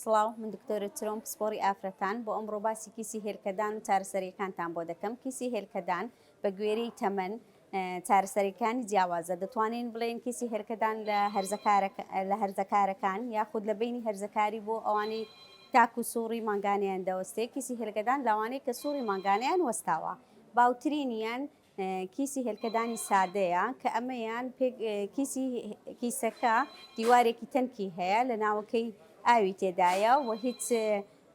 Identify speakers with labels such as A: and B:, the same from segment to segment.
A: سڵاو من دکتۆرە چرۆم پسپۆڕی ئافرەتان بۆ ئەمڕۆ باسی کیسی هێلکەدان و چارەسەریەکانتان بۆ دەکەم کیسی هێلکەدان بە گوێرەی تەمەن چارەسەریەکانی جیاوازە دەتوانین بڵێن کیسی هێلکەدان لە لە هەرزەکارەکان یاخود لە بینی هەرزەکاری بۆ ئەوانەی تاکو سوڕی مانگانیان دەوەستێ کیسی هێلکەدان لەوانەی کە سوڕی مانگانیان وەستاوە باوترینیان کیسی هێلکەدانی سادەیە کە ئەمەیان کیسی کیسەکە دیوارێکی تەنکی هەیە لە ناوەکەی ئاوی تێدایە و هیچ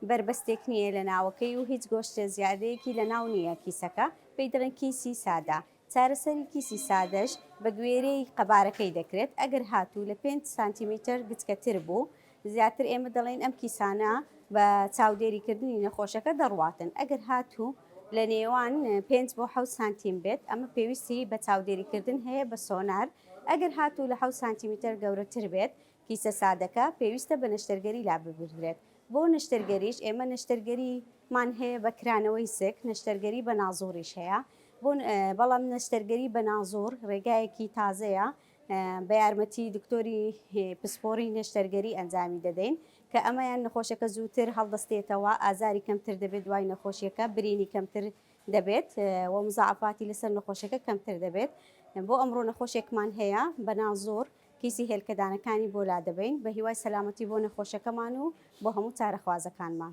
A: بەربەستێک نییە لە ناوەکەی و هیچ گۆشتە زیادەیەکی لە ناو نییە کیسەکە پێی دەڵێن کیسی سادە چارەسەری کیسی سادەش بە گوێرەی قەبارەکەی دەکرێت ئەگەر هاتوو لە 5 سانتیمیتر گچکەتر بوو زیاتر ئێمە دەڵێین ئەم کیسانە بە چاودێریکردنی نەخۆشەکە دەڕواتن، ئەگەر هاتوو لە نێوان پێنج بۆ حەوت سانتیم بێت، ئەمە پێویستی بە چاودێریکردن هەیە بە سۆنار، ئەگەر هاتوو لە حەوت سانتیمیتەر گەورەتر بێت، کیسە سادەکە، پێویستە بە نەشتەرگەری لاببردرێت، بۆ نەشتەرگەریش ئێمە نەشتەرگەریمان هەیە بە کرانەوەی سک، نەشتەرگەری بە نازووریش هەیە، بەڵام نەشتەرگەری بە نازوور ڕێگایەکی تازەیە بە یارمەتی دکتۆری پسپۆڕی نەشتەرگەری ئەنجامی دەدەین کە ئەمەیان نەخۆشەکە زووتر هەڵدەستێتەوە، ئازاری کەمتر دەبێت دوای نەخۆشیەکە، برینی کەمتر دەبێت و مزاعەفاتی لەسەر نەخۆشەکە کەمتر دەبێت. بۆ ئەمڕۆ نەخۆشێکمان هەیە بە نازۆر کیسی هێلکەدانەکانی بۆ لادەبەین، بە هیوای سەلامەتی بۆ نەخۆشەکەمان و بۆ هەموو چارەخوازەکانمان.